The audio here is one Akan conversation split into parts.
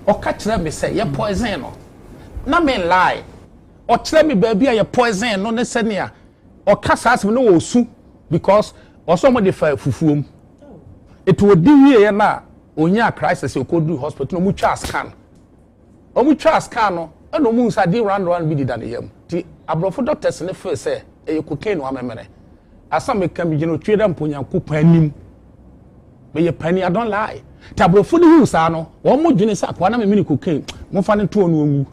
Ɔka kyerɛɛ me sɛ yɛ poison no, na me nlie. Ɔkyerɛɛ me baabi a yɛ poison no ne sɛnea ɔka saa asɛm no na ɔresu because ɔsɛ wɔde fa fufuo mu. Nti ɔdi wieeɛ no a ɔnyaa crisis a ɔkɔduruu hospital na wɔtwaa scan. Wɔtwaa scan no na wɔhuu sɛ adeɛ round round bi deda ne yam. Nti aborɔfo doctors no feel sɛ ɛyɛ cocaine wamemene. Asa meka megyina otwie da mpo Nyankopɔn anim. Meyɛ panyin, I don't lie. Te aborɔfo no huu saa no, wɔn mo dwene sɛ akoa na me mene cocaine. Momfa no ntoɔ no onwu.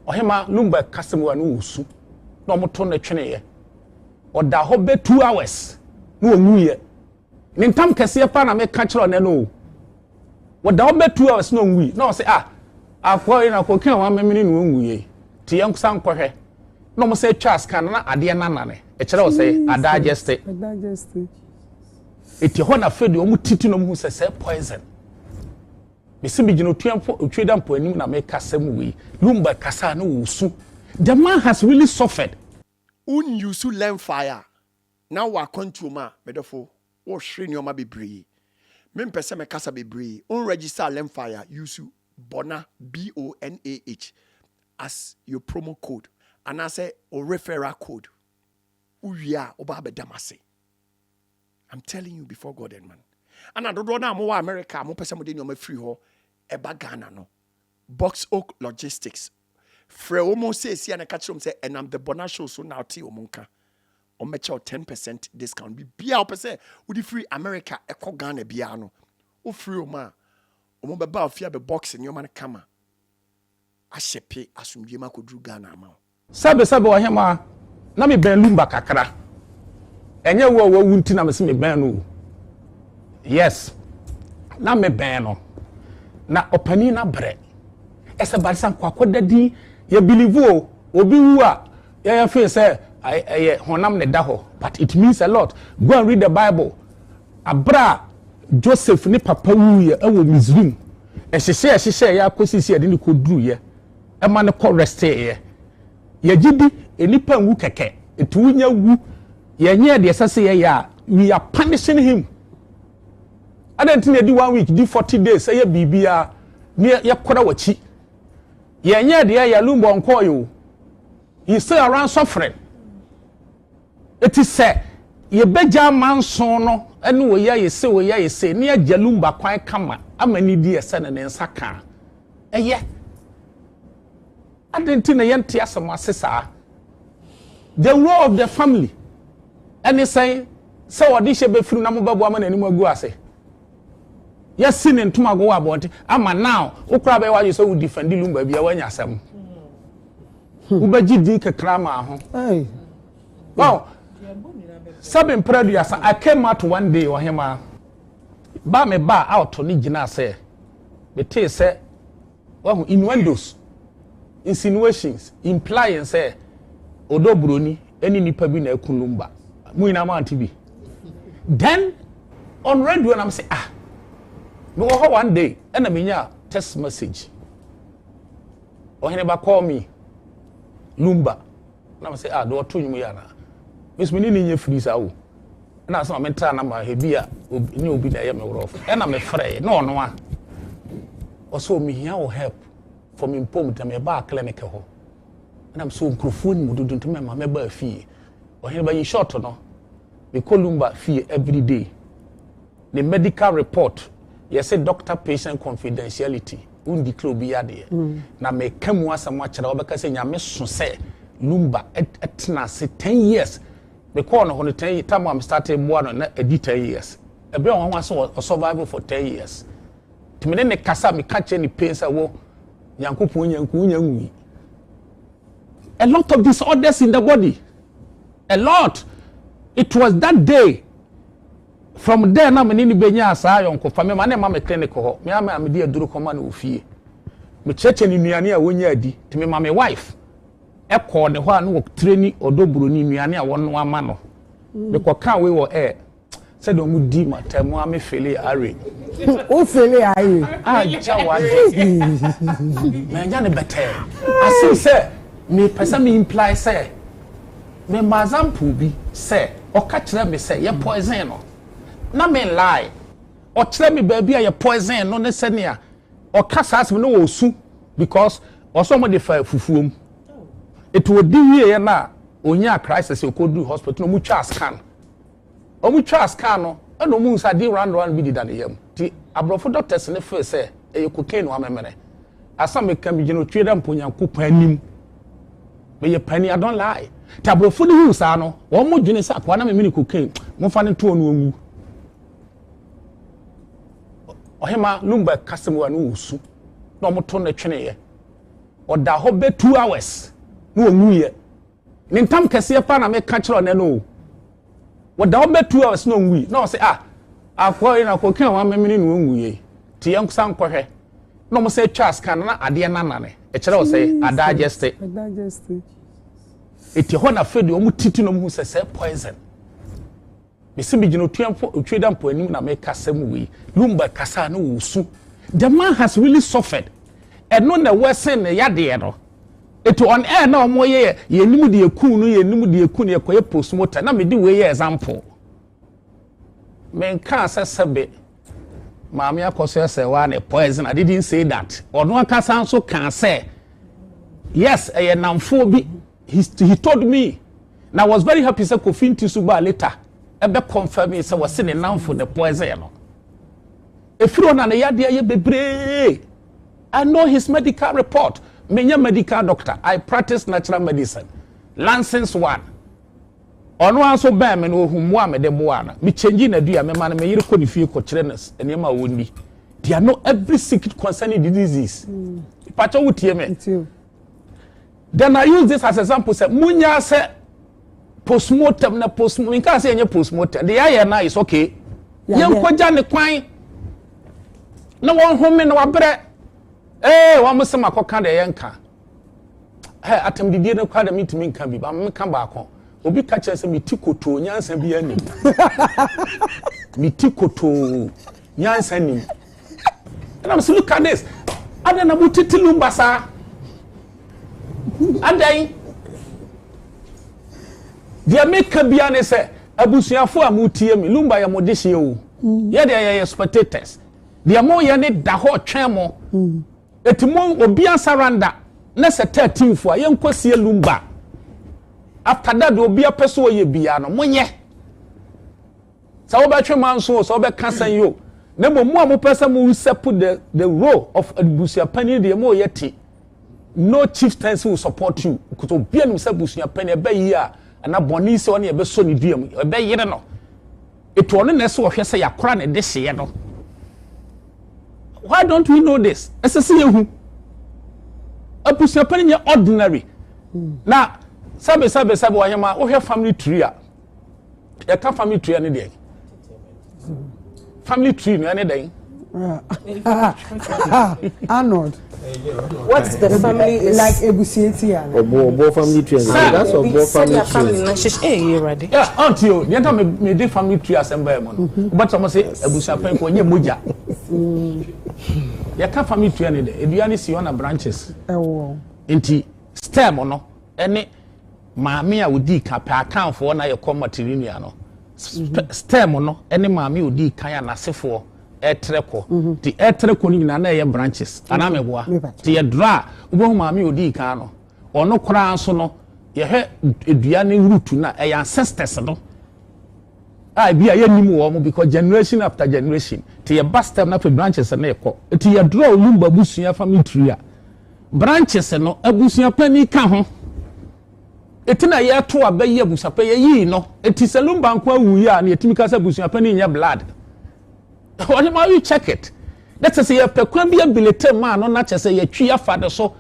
Ɔhema Lumba kasa mu a no wɔsu na wɔto no tweneeɛ. Ɔda hɔ bɛ two hours na ɔnwuiɛ. Me ntam kɛseɛ paa na meka kyerɛ ɔnɛ no o. Wɔda hɔ bɛ two hours na ɔnwui na ɔsɛ ah akoa yi na kokin a wɔamemene no ɔnwu yei nti yɛn nsa nkɔhwɛ na wɔn sɛ twa scan na adeɛ nanane ɛkyerɛ ɔsɛ adageste ɛti hɔ na afei deɛ wɔn titi na wɔn hu sɛ sɛ poison mesi bi gyina otua mpo otwi da mpo anim na meka sɛm wei lumba kasa na wɔsu the man has really suffered. Won use lɛmfae a. Na wɔ akwantuo mu a, me dɔfo, wohwere nneɛma bebree. Mempɛ sɛ mekasa bebree. Wo register Lemfire use Bona, B-O-N-A-H, as your promo code anaasɛ wo referral code. Wowie a, woba abɛda m'ase. I'm telling you before God and man. Ɛna dodoɔ no a mowɔ America a mopɛ sɛ mode nneɛma firi hɔ ba Ghana no, Box Oak Logistics frɛ wɔn seesia na ɛka kyerɛ wɔn sɛ ɛnam the Bona show so na ɔte wɔn nka wɔn bɛkyɛ wɔ ten percent discount biribiara wɔpɛ sɛ wɔde firi America ɛkɔ Ghana biara no wofiri wɔn a wɔn bɛba ofie abɛ box nneɛma no kama ahyɛ pe asomdwe mu akɔduru Ghana ama wɔn. Sɛbesɛbe ɔhemmaa, na mebɛn Lumba kakra. Ɛnyɛ wo a wawu nti na mese mebɛn no o. Yes, na mebɛn no. Na ɔpanin no abrɛ. Ɛsɛ baresa nkwakɔ da din. Yɛ believe o, obi wu a, yɛyɛ feel sɛ ɛyɛ honam na ɛda hɔ, but it means a lot. Go and read the Bible. Abrɛ a Joseph ne papa wuiɛ wɔ Misrim, ɛhyehyɛɛ ɛhyehyɛeɛ ara kɔsii sɛ yɛde no kɔduruiɛ. ɛma no kɔ resting yɛ yɛgye di nnipa nwu kɛkɛ nti wonya wu yɛnyɛ deɛ ɛsɛ sɛ yɛyɛ a we are punishing him ɛdɛ nti na ɛdi one week di forty days ɛyɛ biribiara ne yɛkora w'akyi yɛnyɛ deɛ yɛ lumbɔ nkɔɔ yɛ o he still around suffering Eti sɛ yebegya amanson no ne Oyaese Oyaese ne Agya Lumba kwan kama ama nidi a ɛsɛ no ne nsa ka a, ɛyɛ? Adɛn nti na yɛnte asɛm ase saa? The role of the family ne sɛn sɛ ɔdehyeɛ bɛfiri mu na mobɛboa ma n'anim agu ase? Yɛasi ne ntomago wɔ abɔnten ama now wo koraa bɛyɛ w'adwene sɛ wo defendi Lumba bia woanya asɛm. Hmm. Wobɛgye din kakra maa ho. Wow. Sɛbe mpere aduasa I came out one day ɔhema. Ba me ba out ne gyina sɛ metee sɛ Wahu, innuendos, insinuations, implying sɛ ɔdɔ buroni ne nipa bi na ɛku lumba. Mo nyinaa mo ante bi. Then on radio na mese ah, mewɔ hɔ one day ɛna menya text message. Ɔheneba call me lumba. Na mese ah deɛ ɔto nnwom yi anaa? Me nso me ne no nyɛ firi saa o. Ɛna sɛ maame tra na ma ebi a nyɛ obi na ɛyɛ me worɔfo. Ɛna me frɛɛ na ɔno a ɔsɛ o mehia wo help for me mpom nti na mebaa clinic hɔ. Ɛna mese o nkurɔfoɔ ni mu dodo nti mɛma mɛbaa fie. Ɔhene ba in short no mekɔ Lumba fie everyday. ne medical report yɛse doctor patient confidentiality wondeclare obi yadeɛ na meka mu asɛm akyerɛ wobɛka sɛ nyame so sɛ lumba ɛtena ase 10 years mekɔɔ no hɔ no 10 tam a mestarte boa no na ɛdi 10 years ɛberɛ a wɔn ase wɔ survival for 10 years nti mene ne kasa meka kyerɛ ne pain sɛ wo nyankopɔn nya nku wonya nwui a lot of disorders in the body a lot it was that day From there na me ne no bɛnyaa saa ayɔnkofa, mema no ma me clinic hɔ, me ara me na mede aduro kɔma no wɔ fie. Mekyerɛkyerɛ no nnuane a ɔnyɛ adi, nti mema me wife kɔɔ ne hɔ a na ɔtreni ɔdɔ buroni nnuane a wɔnoa ma no. Mekɔkaa wei wɔ air, sɛdeɛ wɔdi matter mu a me feele irate. Wo feele irate? Agya w'adwen! Manya no bɛtɛɛ, as if sɛ mepɛ sɛ me imply sɛ. Me mma example bi sɛ ɔka kyerɛ me sɛ yɛ poison no na me lie. Ɔkyerɛ me baabi a yɛ poison no ne sɛnea ɔka saa asɛm no na ɔresu because ɔsɛ wɔde fa fufuo mu. Nti ɔdi wieɛ no a ɔnyaa crisis ɔkɔduru hospital na wɔtwaa scan. Wɔn twaa scar no na wɔn hu sɛ ade round round bi deda ne yam nti abrɔfo doctors no feel sɛ ɛyɛ cocaine no amemene. Asa meka me gyina otwi da mpo Nyankopɔn anim me yɛ panyin I don't lie nti abrɔfo no hu saa no wɔn mo dwene sɛ akoa na memene cocaine momfa no ntoɔ no ngu. Ɔhema Lumberg kasa mu a no wɔ su na wɔn to no tweneeɛ ɔda hɔ bɛ two hours na wɔn mu yɛ. Me ntam kɛseɛ paa na meka kyerɛ ɔnɛ no o. Wɔda hɔ bɛ two hours na ɔnwui na ɔsɛ ah akɔ yi na akɔ kan wɔn amemene na ɔnwui yɛ te yɛn nsa nkɔhwɛ na wɔn sɛ twa scan na adeɛ nanane ɛkyerɛ ɔsɛ adageste ɛti hɔ na afei deɛ wɔn titi na wɔn hu sɛ sɛ poison. Mese megyina Otuafoɔ Otweda Mpo anim na meka asɛm wei. Lumba kasaa na ɔresu. The man has really suffered. Ɛno na worsen ne yadeɛ no. Eti on air na wɔn yɛ yɛ yɛn anim de ekun no yɛn anim de ekun no yɛ kɔyɛ postmortem na mede wei yɛ example. Menkaa sɛ sɛbe maame akɔ so ɛsɛ waa ne poison I didn't say that. Ɔno ankasa nso kaa sɛ yes ɛyɛ namfoɔ bi. he he told me na I was very happy sɛ kofi nti so baa later ɛbɛ confirm me sɛ wɔsi ne nanfo ne poison no efiri ɔna ne yadeɛ yɛ bebree I know his medical report me nyɛ medical doctor I practice natural medicine license one ɔno nso bɛn me na ohun mu a me de boa no me change na dua me ma no me yere kɔ ne fie kɔ kyerɛ no nneɛma a wɔn ni. They know every secret concerning the disease. Mm. Pacho would hear me. Then I use this as example sɛ munya sɛ postmortem na post nka sɛ yɛnyɛ postmortem de yɛayɛ na is okay yɛnkɔgya ne kwan na wɔnhome na wabrɛ ee wɔn mo sɛm akɔka deɛ yɛnka ɛ atam bibie no kora deɛ mentumi nka bi ba meka baako obi ka kyerɛ sɛ meti kotoo nyansa bi anim meti kotoo Nyansa nim. Ɛna mesi look at this. Adan na mo tete lumba saa. Adan. Deɛ meka bia ne sɛ abusuafo a mo tie mi lumba yɛ mo de hyɛ o. Mm. Yɛ deɛ yɛyɛ spectators. Deɛ mo yɛ ne da hɔ twɛn mo. Mm. Eti mo obi asaranda na sɛ thirteen fo a yɛnkɔ sie lumba. After that obi apɛ so ɔyɛ bia no mo yɛ. Sɛ wobɛtwe manso o, sɛ wobɛka sɛn yi o, na mmom mo a mopɛ sɛ mo usurp the the role of abusuapanyin deɛ mo yɛ te. No chieftaincy will support you because obi anim sɛ abusuapanyin ɛbɛ yie a anaa bɔne yi sɛ ɔne ɛbɛsɔ ne dua mu ɛbɛ yere no. Etu ɔno na ɛsɛ ɔhwɛ sɛ yakora ne de hyeɛ no. Why don't we know this? Ɛsɛ sɛ yɛhu. Abusuapanyin nyɛ ordinary. Na sɛbe sɛbe sɛbe ɔhema wohwɛ family tree a. yɛka family tree ne deɛ family tree no ɛne dɛn Arnold. What's the family is like Ebusieti and Obo Obo family tree. That's Obo family tree. Hey, you ready? Yeah, auntie, you know me me the family tree assemble mo. Mm-hmm. But someone say Ebusia pen ko nye moja. Mm. You can family tree ne de. Eduane si on branches. Ewo. Nti stem no. Any Maame a odii kan pɛ Akanfoɔ na yɛ kɔ Matrilineal no stem no ne maame a odii kan a n'asefoɔ ɛtrɛ kɔ ti ɛtrɛ kɔ no nyinaa na ɛyɛ branches anaa mɛboa ti yɛ dra a wobɛhu maame a odii kan no ɔno koraa nso no yɛhwɛ dua ne root no a ɛyɛ ancestors no a ebia yɛnnim wɔn because generation after generation te yɛba stem no afei branches no rekɔ nti yɛdrɔ olumba abusua family tree a branches no abusua panyin ka ho ɛti na yɛto aba yi abusua pɛ yɛyii no ɛti sɛ lumba nko awu yi a na yɛtumi ka sɛ abusua panyin nyɛ blood ɔne ma you check it na kyɛ sɛ yɛpɛ kwan bi abilite maa no na kyɛ sɛ yɛtwi afa de so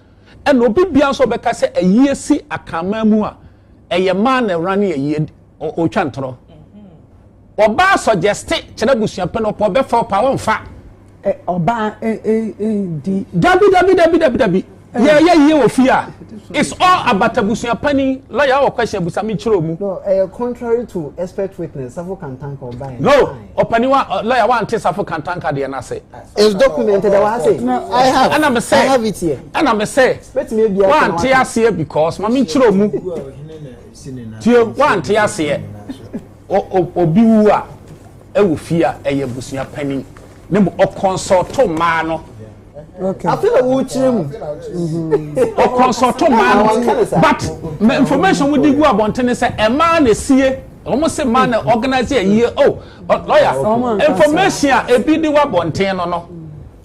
ɛna obi bia nso ɔbɛka sɛ ayie si akama mu a Ɛyɛ maa na ɛwura ne ayie ɔretwa ntorɔ. Ɔbaa sɔgyɛste kyerɛ abusuapɛn ɔpɛ ɔbɛfa ɔpɛ a ɔmfa. Ɔbaa di. Dabi dabi dabi dabi dabi yɛyɛ yie wɔ fie a it's all about abusuapɛn lɔya wɔ question abusa me nkyerɛ ɔmu. No ɛyɛ contrary to expert witness safo kantanka ɔbaa yɛ. No ɔpanin wa lɔya wante safo kantanka deɛ no ase. Is document ɛda wɔ ha sɛ. No, I have. Ɛna me sɛ. I have it here. Ɛna me sɛ. Bɛtumi ebi aka. Wante aseɛ because maame nkyerɛ mu. Tie wante aseɛ. Obi wu a ɛwɔ fie a ɛyɛ abusua panin ne mu ɔkɔnsɔɔto mmaa no. Afei na wɔrekyerɛ mu. Ɔkɔnsɔɔto mmaa no but information mu di gu abɔntene sɛ ɛmaa na esie wɔn se mmaa na organize ayie o oh, Lɔya, Information a ebi de wa bɔnten no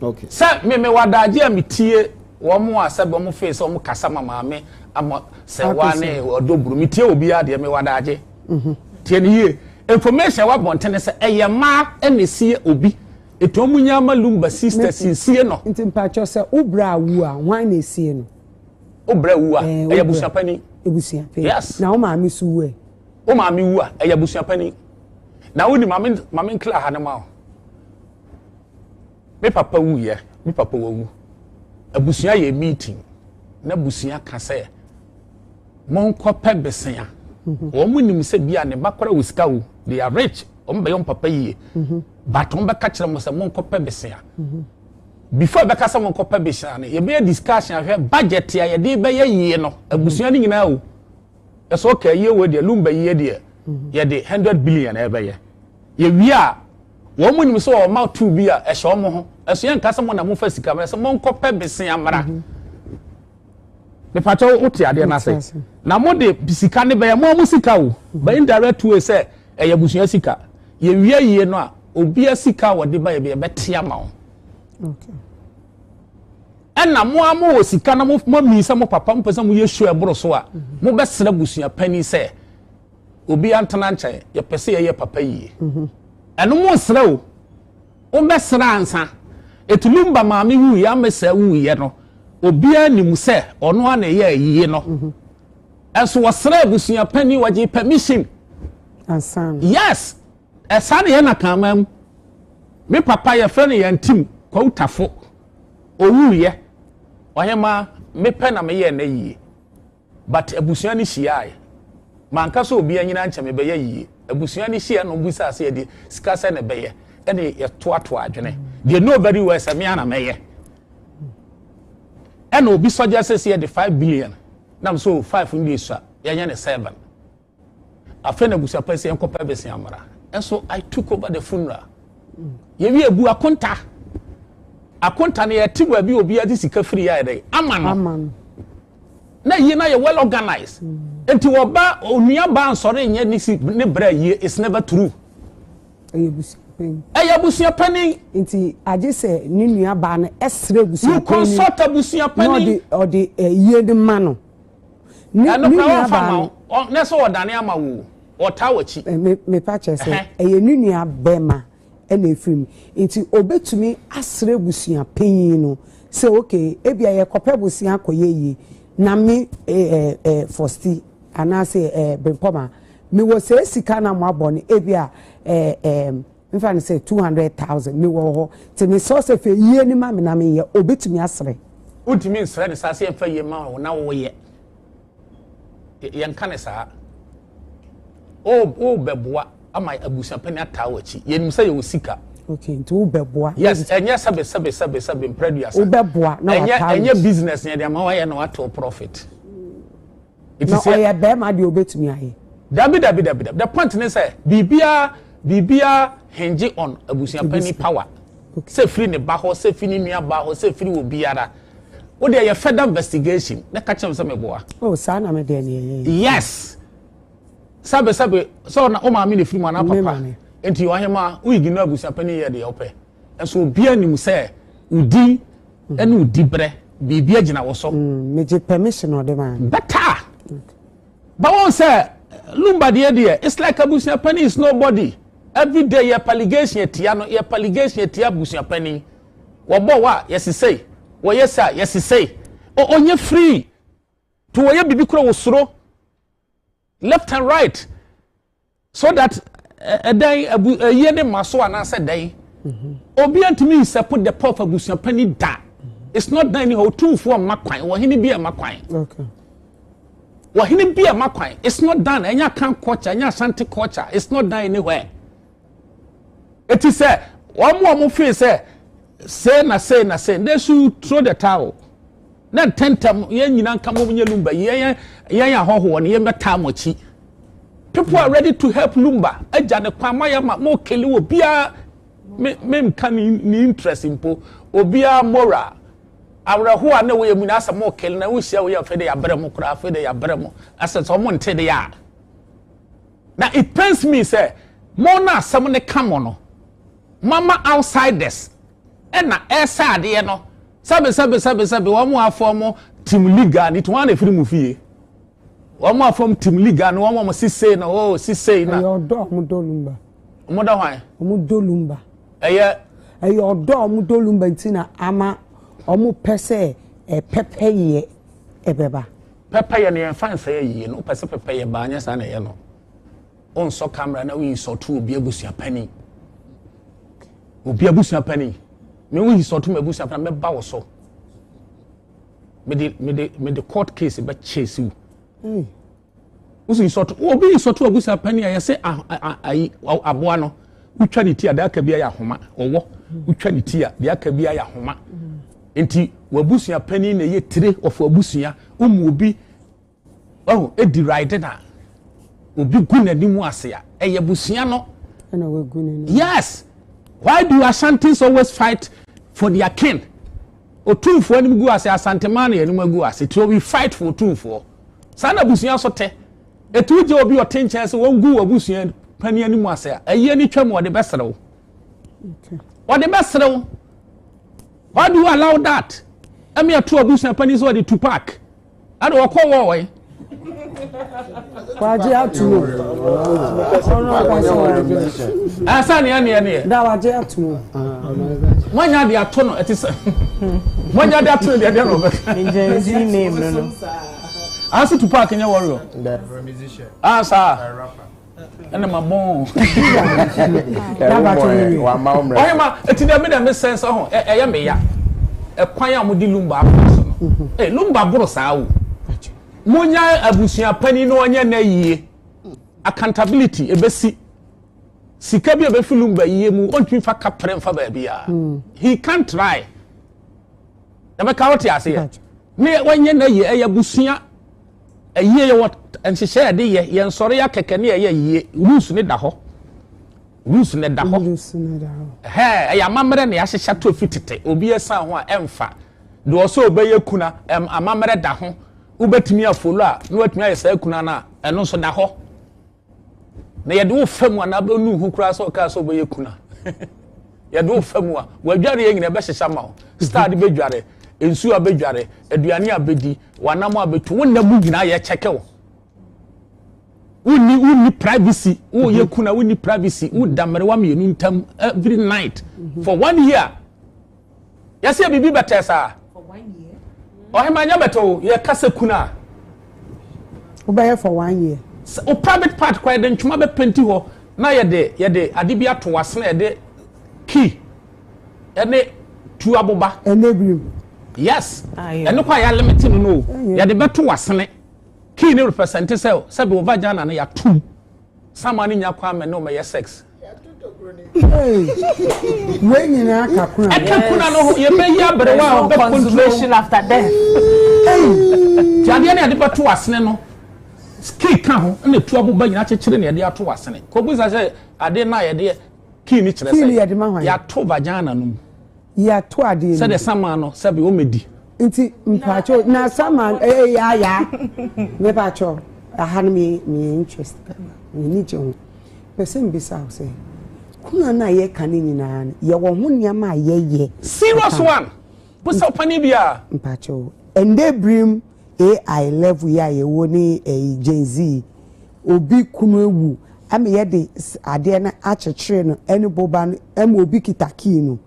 no, sɛ me mewɔ adagye a me tie wɔn a sɛ bɛ wɔn fee sɛ wɔn kasa ma maame ama sɛ wa ne ɔdɔ buru me tie obiara deɛ mewɔ adagye. Tie ne yie, information a ɛwɔ abɔnten ne sɛ ɛyɛ mmaa ɛna esie obi, etu wɔn nyɛ ama lumba sisters nsie no. Nti mpakyɛw sɛ wo bra awu a hwan na esie no? Wo bra awu a, ɛyɛ abusuapani. Abusuapani. Yes. Na wo maame so wu ɛ? wo maame wu a ɛyɛ abusua panyin na wodi maame maame nkira ha no ma wo me papa wuyɛ me papa wawu abusua yɛ meeting na abusua ka sɛ monkɔpɛ besia mhm. wɔn nim sɛ bia ne ba kora wɔ sika wo they are rich wɔn bɛyɛ wɔn papa yie mhm. but wɔn bɛka kyerɛ mo sɛ monkɔpɛ besia mhm. before bɛka sɛ monkɔpɛ besia no yɛbɛyɛ discussion ahwɛ budget a yɛde bɛyɛ yie no abusua no nyinaa o. ɛsɛ ɔka ɛyɛ wei deɛ lumba yie deɛ yɛde hundred billion ɛbɛyɛ yɛwie a wɔn mu nim sɛ ɔma tu bi a ɛhyɛ wɔn ho ɛso yɛn nka sɛ mo na mo fa sika mo ɛsɛ mo nkɔ pɛ besin amara mipatɛ o te adeɛ n'ase na mo de sika ne bɛyɛ mo a mo sika o bɛyɛ indirect way sɛ ɛyɛ abusua sika yɛwie yie no a obi asika a wɔde ba yɛ bi yɛbɛte ama wɔn. Okay. Ɛna mo ara mowɔ sika na moamii sɛ mo papa mopɛ sɛ moyɛ show ɛboro so a, mobɛsrɛ abusua panin sɛ obiara ntena nkyɛn, yɛpɛ sɛ yɛyɛ papa yie. Ɛno monsrɛ o, wobɛsrɛ ansa. Ɛti Lumba maame wuiɛ a Mesa wuiɛ no, obiara nim sɛ ɔno ara na ɛyɛ ayie no. Ɛnso wɔsrɛ abusua panin, wɔgye permission. Ansa. Yes! Ɛsaa na yɛ na kan man mu. Me papa yɛfrɛ no Yantim Kwautafo. Owuiɛ, Ɔhemaa, me pɛ na me yɛɛ nɛ yie, but abusua no hyiaaɛ. Manka sɛ obi anyini ankyɛ me bɛyɛ yie. Abusua no hyiaaɛ na wɔn bisaa sɛ yɛde sika sɛ na ɛbɛyɛ, ɛna yɛtoatoa adwene. They know very well sɛ me ara na mɛyɛ. Ɛna obi suggest sɛ yɛde five billion, nam sɛ oh five no deɛ sua, yɛnyɛ no seven. Afei na busa pɛ sɛ yɛnkɔpɛ bɛsi amara. And so I took over the funeral. Yɛwie ebu akonta. Akonta no yɛte baabi obi adi sika firi yɛ ayɛdɛ ama no. Na yie na yɛ well organized. Mm. Nti wɔba onua ba nsɔre nyɛ ne si ne brɛ yie it's never true. Ɛyɛ busa panyin. ɛyɛ abusua panyin. nti agye sɛ ne nua baa no ɛsrɛ abusua panyin. you consult abusua panyin. na ɔde ɔde ɛyie eh, de ma no Ne ne nua baa no. Ne sɛ ɔdane ama wo o ɔtaa w'akyi. Me mepa kyɛ sɛ ɛyɛ ne nua bɛma ɛna efiri mu nti obetumi asrɛ busua panyin no sɛ okay ebia yɛ kɔpɛ bosea kɔ yɛ yie na me ɛɛ ɛɛ fɔsti anaasɛ ɛɛ bempɔma me wɔ sɛ sika na mo abɔ no ebia ɛɛ ɛɛ Mfa no sɛ two hundred thousand me wɔ hɔ te me srɛ sɛ fɛ yie ne ma me na me yɛ obetumi asrɛ. Wontumi nsrɛ ne saa sɛ yɛn fɛ yie ma wo na wo yɛ yɛn ka ne saa o o bɛboa ama abusuapɛni ataa wɔ akyi yɛn nim sɛ yɛ wɔ sika. Okay nti wo bɛboa. Yes ɛnyɛ sɛbe sɛbe sɛbe sɛbe mpɛrɛ duasa. Wo bɛboa na wa taa wɔ akyi. Ɛnyɛ business yɛn de ama wa yɛ na wa to profit. Na ɔyɛ barima deɛ ɔbɛtumi ayɛ. Dabi dabi dabi dabi the point ne sɛ biribiara biribiara hinge on abusuapanyin power sɛ firi ne ba hɔ sɛ firi ne nua baa hɔ sɛ firi wɔ biara wo deɛ yɛ further investigation na ka kyerɛ sɛ meboa. Oh saa na me deɛ ne yɛyɛ. Yes sɛbe sɛbe sɛ ɔna wo maame na firi mu anaa papa nti ɔhema wo ignore abusuapanyin yɛ deɛ ɔpɛ. So obiara nim sɛ wo din ne wo diberɛ biribi agyina wo so? Mm, megye permission ɔde ma. Bɛta a. Ba wɔn sɛ Lumba deɛ deɛ, it's like abusua panin is nobody. Every day yɛ paligation atia no, yɛ paligation atia abusua panin. Wɔbɔ wɔ a, yɛsesei. Wɔyɛ sɛ a, yɛsesei. Ɔnyɛ free. To wɔyɛ biribi kora wɔ suro. Left and right. So that ɛdɛn abu ɛyɛ ne ma so anaasɛ dɛn mhm. obi antumi nsɛpo the power of abusua panyin da it's not done anyhow otumfoɔ mma kwan wɔhene bi a ɛma kwan wɔhene bi a ɛma kwan it's not done ɛnyɛ akan culture ɛnyɛ asante culture it's not done anywhere eti sɛ wɔn a wɔn feel sɛ say na say na say they should throw the towel. Na ntɛntɛm yɛn nyinaa nka mom nyɛ lumba yi yɛn yɛn ahɔhoɔ no yɛn bɛtaa mo akyi people are ready to help lumba agya ne kwan mo ayɛ ma mo kele wɔ biara me me nka ne ne interest mpo obiara mora awerɛho a na ɛwɔ yɛ mu nyinaa sɛ mo kele na wohyia wɔ yɛ afei de yɛabrɛ mo koraa afei de yɛabrɛ mo asɛ sɛ ɔmo nte de a Na it pains me sɛ mo na asɛm no ka mo no, moama outsiders na ɛresɛ adeɛ no, sɛbe sɛbe sɛbe sɛbe wɔn afɔm Tim Liga ne ti wɔn na ɛfiri mo fie. Wɔn afɔm Tim Liga ne wɔn wɔn sisei na oo sisei na. Ɛyɛ ɔdɔ a wɔdɔ lumba. Wɔdɔ hwan? Wɔdɔ lumba. Ɛyɛ. Ɛyɛ ɔdɔ a wɔdɔ lumba nti na ama wɔpɛ sɛ ɛpɛpɛyɛ ɛbɛba. Pɛpɛyɛ no yɛmfa nsɛ yɛ yiye no wopɛ sɛ pɛpɛyɛ baa nyɛ saa na ɛyɛ no wonsɔ camera na woyi sɔto obi abusua pani obi abusua pani me woyi sɔto ma abusua pani mɛba wo so mede mede mede court case bɛ chase wo hmm. wosi sɔto obi yi sɔto abusua pani a yɛsɛ ayi aboa no wotwa ne ti a deɛ aka bi ayɛ ahoma ɔwɔ wotwa ne ti a deɛ aka bi ayɛ ahoma. Enti w'abusua panin na ɛyɛ tire of w'abusua. Womu obi oh, ɛdi ride na obi gu n'anim ase a, ɛyɛ abusua no. Yes! Why do Ashantis always fight for their kin? Otumfoɔ anim gu ase, Asantemaa na anim agu ase. So we fight for Otumfoɔ. Saa na abusua so te. Etu gye obi ɔte nkyɛn sɛ wɔn gu abusua panin anim ase a, ɛyɛ ne twam ɔde bɛserew. Ɔde bɛserew. Why do you allow that? Ɛmi ato abusua panyin sɛ ɔde Tupac ɛna ɔkɔ wɔ ɔyɛ. Wagye ato mu. Ɔno akwasa ɔde bi nso. Ɛsɛ neɛ neɛ neɛ. Da wagye ato mu. Wanya de ato no ɛte sɛ. Wanya de ato no deɛ deɛ na ɔbɛka. Ngyɛn zi name no no. Anso Tupac nyɛ wɔriɔ. Asa. ɛna ma bɔn ɔhema ɛti dɛ me dɛ me sɛn sɛ ho ɛyɛ me ya ɛkwan a wɔde lumba afɔ so no mm-hmm. ɛ lumba boro saa o mo nya abusua panyin na ɔnyɛ na yie accountability ebesi sika bi a ebefi lumba yie mu ɔntumi fa kapere nfa baabi a mm. he can try ɛbɛka ɔte ase yɛ ne wɔnyɛ na yie ɛyɛ abusua Ayie yɛwɔ nhyehyɛ yɛde yɛ yɛn sɔre akɛkɛ ne ɛyɛ yie rules ne da hɔ rules ne da hɔ ɛhɛ ɛyɛ amammerɛ ne ahyehyɛ to fi tete obi ɛsan ho a ɛnfa deɛ ɔsɛ ɔbɛyɛ kuna ɛm amammerɛ da ho wobɛtumi afolo a na watumi ayɛ saa kuna no a ɛno nso da hɔ. na yɛde wo fa mu anaa bɛnu ho koraa sɛ ɔkaa sɛ wobɛyɛ kun a yɛde wo fa mu a wadware yɛ nyina ɛbɛhyehyɛ ma wo star de bɛdware nsuo a bɛdware aduane a bɛdi wanam a bɛtu wo nna mu nyinaa yɛkyɛkɛ wo wonni wonni privacy woyɛ kun a wonni privacy woda mmerewa mmienu ntam every night for one year Yɛsɛ biribi bɛtɛɛ saa. Ɔhema nyɛ bɛtɛ o, yɛ kasa kun a. Wobɛyɛ for one year. Sɛ o private part kora yɛde ntwoma bɛ penti hɔ na yɛde yɛde ade bi ato wase na yɛde key ɛne tu aboba. Ɛne birim. Yes, ɛne kɔ a yɛ limit no no o, yɛde bɛto wasene. Key ne represent sɛ sɛ bɛ o vagina no yɛ atum. Sama no nya kwan mɛ ne o mɛ yɛ sex. wei nyinaa ka kuna no ɛka kuna no ho yɛbɛyi aberewa a ɔbɛ consolation after death ti adeɛ ne yɛde bɛto asene no kii ka ho na etu aboba nyinaa kyekyere na yɛde ato asene kɔbisa sɛ adeɛ no a yɛde kii ne kyerɛ sɛ yɛato vagina no mu Yɛato adeɛ no. Sɛdeɛ saman no sɛbe wɔmɛdi. Nti mpakyɛ na saman ɛyɛ eh, ya ya. Mepakyɛ aha no me me interest pɛma me ni gye ho. Pɛsɛ mbisa wo sɛ kuna no a yɛka no nyinaa no yɛwɔ ho nneɛma a yɛyɛ. Serious one. Busa ɔpani bi a. Mpakyɛ o. Ɛndɛ birim AI level yi a yɛwɔ ne ɛyi Gen Z yi, obi kunu awu ɛma yɛde adeɛ no akyekyere no ɛne boba no ɛma obi kita key no.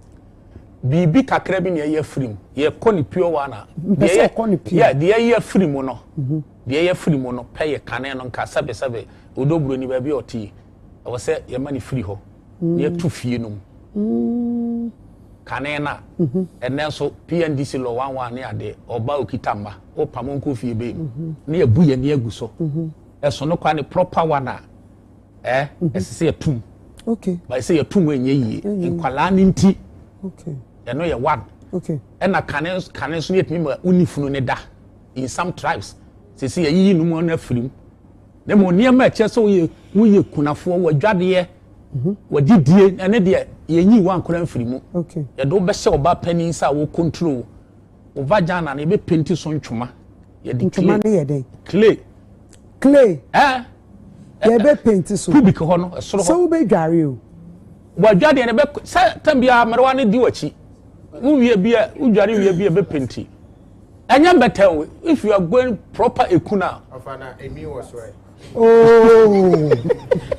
Biribi kakra bi na ɛyɛ firi mu, yɛkɔ ne pure one a, deɛ yɛ, yeah, deɛ ɛyɛ firi mu no, deɛ ɛyɛ firi mu no pɛ yɛ kane no nka sɛbe sɛbe, Odɔ Buroni baabi a ɔte yi, Ɛwɔ sɛ yɛma no firi hɔ na yɛto fie no mu. Kane no a, ɛnnɛ nso PNDC lɔ one one ne adeɛ, ɔba ɔkita mma, wopam ɔnkɔ fie bɛn mu. Na yɛabu yɛn ani agu so. Ɛso no koraa ne proper one a, eh, ɛsɛ sɛ yɛto mu. Okay. But ɛsɛ yɛto mu ɛnyɛ yie. Nkwadaa no nti. Okay. Ɛno yɛ one. Okay. Ɛna kane kane nso yɛtumi ma unifunu ne da in some tribes. Sɛ sɛ yɛyiyi no mu no afiri mu. na mmom nneɛma a ɛkyerɛ sɛ woyɛ woyɛ kunafoɔ w'adwadeɛ mhm. w'adidie ɛne deɛ yɛnyi wo ankora mfiri mu yɛde wo bɛhyɛ ɔba panin sɛ a wo control wo vagina no yɛbɛpenti so ntwoma yɛde clay clay clay ɛɛ yɛbɛpenti so pubic hɔ no ɛsoro hɔ sɛ wobɛdware o w'adwadeɛ no bɛ sɛ tam biara mmerewa no di w'akyi wowie bi a wodware wie bi a ɛbɛpenti ɛnyɛ mbɛtɛn o if you are going proper eku na. ɔfa na emi wɔ so ɛ. ooo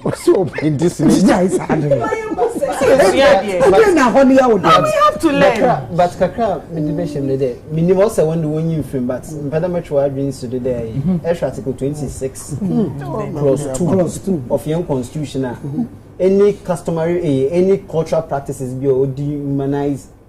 ɔsi o pe di si ni gya isa adi mi. ɛdi na hɔ ni yawo dɔn. we have to learn. but kakra mi di bɛ hyɛm de dɛ mi ni ma ɔsɛ wɔn de wɔn yi nfirim but mpɛdɛ mɛ twɛ adwene si de dɛ yi ɛhwɛ article twenty six clause two clause two of yɛn constitution a any customary eh, any cultural practices bi a odi humanize.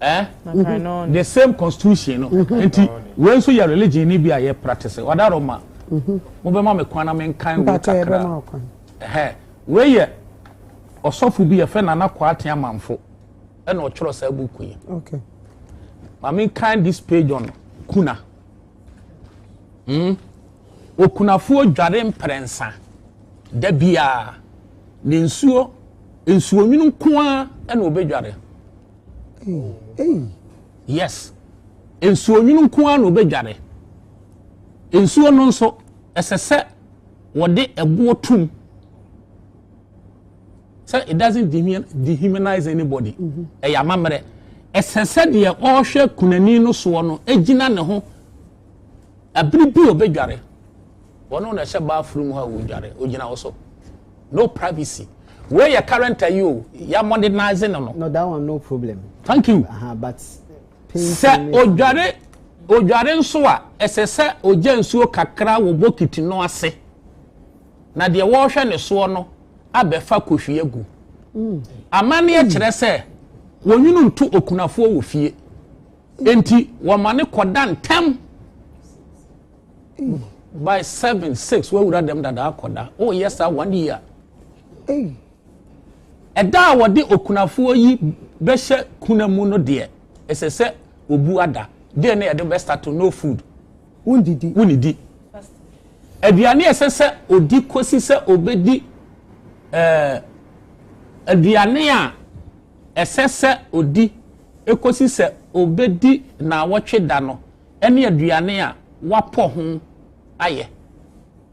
Eh? Mm-hmm. The same constitution no. Mm-hmm. Enti we nso yɛ religion ni bi a yɛ practice. Wada Roma. Mhm. Mo bɛ ma me kwan na me nkan wo kakra. Eh. We yɛ ɔsɔfo bi yɛ fɛ Nana Kwate Amanfo. Ɛna ɔtwerɛ saa buku yi. Okay. Ma me nkan this page on kuna. Hmm? Okunafoɔ dware mprɛnsa da biara. Ne nsuo, nsuonwunu nko ara na ɔbɛdware. Yes. Nsuonwunu nko ara na ɔbɛdware. Nsuo no nso, ɛsɛ sɛ wɔde ɛboɔ tum. sɛ it doesn't dehumanize anybody mhm. ɛyɛ amammerɛ ɛsɛ sɛ deɛ ɔrehwɛ kunani no soɔ no gyina ne ho abiri bi ɔbɛdware wɔn na ɛhyɛ bathroom hɔ a wɔdware ɔgyina hɔ so no privacy wei yɛ current ayi o yɛ modernize no no. no that one no problem. thank you. Uh -huh, but sɛ ɔdware ɔdware nso a ɛsɛ sɛ ɔgya nsuo kakra wɔ bokiti no ase. na deɛ wɔrehwɛ ne soɔ no abɛfa kohwi agu. Amanneɛ kyerɛ sɛ wɔnwunu nto okunafoɔ wɔ fie, enti wɔma no kɔda ntɛm by seven six wɔawura dɛm dada akɔda woyɛ saa one year ɛda a wɔde okunafoɔ yi bɛhyɛ kuna mu no deɛ ɛsɛ sɛ obu ada deɛ ne yɛde bɛsta to no food Wonnidi. Wonnidi aduane a ɛsɛ sɛ ɔdi kɔsi sɛ ɔbɛdi ɛɛ aduane a ɛsɛ sɛ ɔdi kɔsi sɛ ɔbɛdi nnawɔtwe da no ne aduane a wɔapɔ ho ayɛ.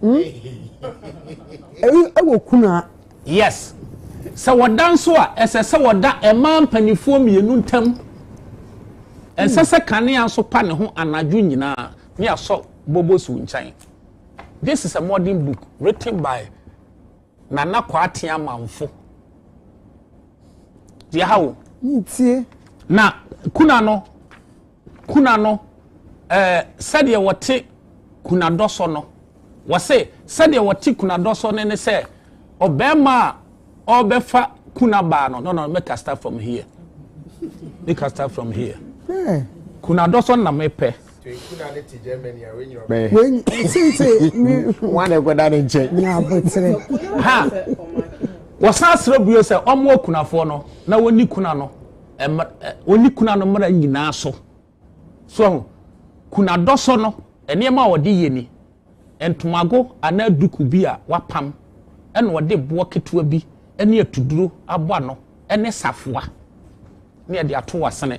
Hmm? Eyi ɛwɔ kunaa. Yes. Sɛ wɔda nso a ɛsɛ sɛ wɔda mmaa mpanimfoɔ mmienu ntam. Ɛnsɛ sɛ kanea nso pa ne ho anadwo nyinaa ne asɔ bobo so nkyɛn. This is a modern book written by Nana Kwati Amanfo. Deɛ ha o. Ntie. Na kuna no Kuna no, eh, sɛdeɛ wɔte kunadɔ sɔ no. Wɔse, sɛdeɛ wɔte kunadɔ sɔ no ne sɛ, ɔbarima a ɔrebɛfa kunabaa no, no, no, make I start from here. Make I start from here. Yeah. Kunadɔ sɔ na mepɛ. Kuna ne te Germany a wenyi ɔbɛyɛ. Wenyi, sese, mi. Wɔn na ɛkɔda ne nkyɛn. Nya abotire. Ha! Wɔsan asrɛ bio sɛ wɔn akunafoɔ no na wɔnni kuna no. wɔnni kuna no mmara nyinaa so so ahu kuna dɔ so no nneɛma a wɔde yɛ ni ntomago anaa duku bi a wapam ɛna wɔde boɔ ketewa bi ne atuduro abɔ ano ɛne safoa ne ɛde ato asene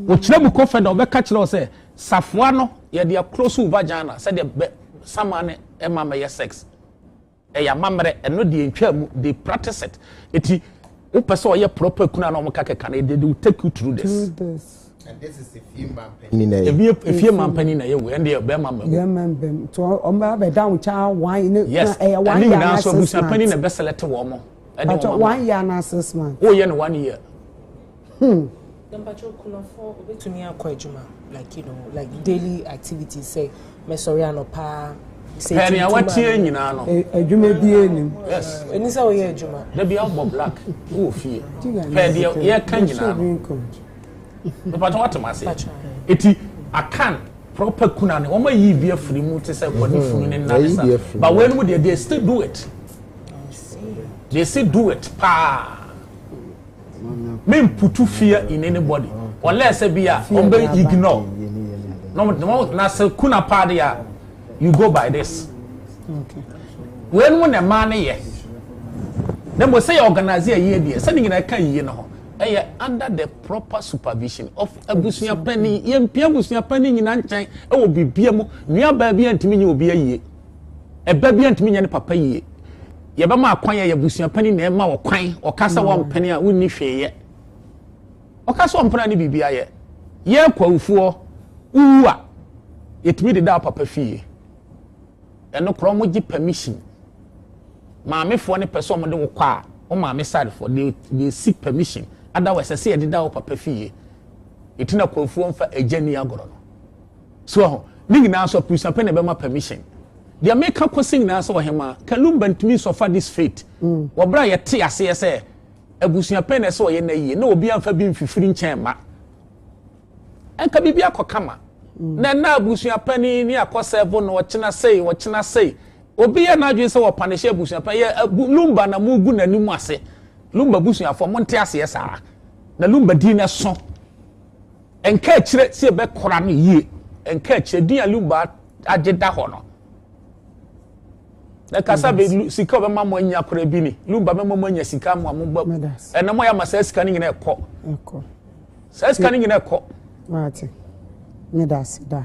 wɔkyerɛ mu kɔ fɛ na wɔbɛka kyerɛ sɛ safoa no yɛde akoro so vagina sɛdeɛ bɛ sama ne ɛma mɛyɛ sex Ɛyɛ amammerɛ, ɛno deɛ ɛntwaa mu, they practice it. Enti wopɛ sɛ ɔyɛ proper kunu a na wɔka kɛka no, they will take you through this. And this is efie manpanin na yɛ. Efie efie manpanin na yɛ wei ɛn deɛ bɛrima mma mu. Bɛrima mba mu nti wɔn bɛ abɛ da wɔn kya one ne yes ɛyɛ eh, one year na six months. ɛne nyinaa nso abusuapanin na ɛbɛ select wɔn ɛde wɔn ama. one year na six months. o yɛ no one year. Hmm. Na mpakyɛw kunafo obetumi akɔ adwuma like you know like daily activities sɛ mɛsɔre anɔpa sɛ pɛ nea watie nyinaa no adwuma bi anim yes ɛni sɛ woyɛ adwuma da bi abɔ black wɔ fie pɛ deɛ yɛka nyinaa no mepakyɛ watem ase ɛti akan proper kuna ne wɔn ayi bi afiri mu te sɛ wɔn funu ne nna ne sa but wɔn mu deɛ they still do it they still do it paa. me mputu fear in anybody ɔlɛ sɛ bi a ɔn bɛ ignore na ɔn tena na sɛ kuna paa de a you go by this wei no na mmaa no yɛ na mo sɛ yɛ organize yɛ yie deɛ sɛ ne nyinaa ka yie no ho ɛyɛ under the proper supervision of abusua panyin yɛn mpia abusua panyin nyinaa nkyɛn ɛwɔ biribiara mu nua baa bi a ntumi nye obi ayie. Ɛba bi a ntumi nyɛ ne papa yie. Yɛbɛma akwan yɛ yɛbusua panyin na ɛma wɔ kwan ɔka sɛ wɔmpene a wonni hwee yɛ. Ɔka sɛ ɔmpene a ne biribi ayɛ. Yɛ kwawufoɔ wowu a yɛtumi de da papa fie. Ɛno korɔ wɔn gye permission. Maamefoɔ ne pɛ sɛ wɔn de wo kɔ a wɔn maame sadefoɔ they they seek permission. Otherwise ɛsɛ yɛde da wɔ papa fie. Eti na kwawufoɔ nfa agya ni agorɔ no. So wahu? Ne nyinaa nso apurusa pɛ na ɛbɛma permission. Deɛ meka kɔsi nyinaa sɛ Ɔhemaa Kalumba ntumi nsɔfa this fate wɔ berɛ a yɛte aseɛ sɛ abusua pɛ na ɛsɛ ɔyɛ na yie na obiara mfa bi mfifiri nkyɛn mma ɛnka biribi akɔ kama. Na ɛna abusua panin ne akɔ sɛvo na ɔkyena sei ɔkyena sei obi yɛ n'adwene sɛ wɔpanehyɛ abusua pɛ yɛ Lumba na mogu n'anim ase Lumba busuafoɔ monte aseɛ saa na Lumba din no so Nkaakyire sɛ yɛbɛkora no yie, nkaakyire din a Lumba agye da hɔ no. Na kasa bɛ mm. sika ɔbɛma mo anya koraa bi ni Lumba bɛma mo anya sika mo a mo ba ɛna mo yɛ ama saa sika no nyinaa ɛkɔ. Saa sika no nyinaa ɛkɔ. Maate, ne da ase daa.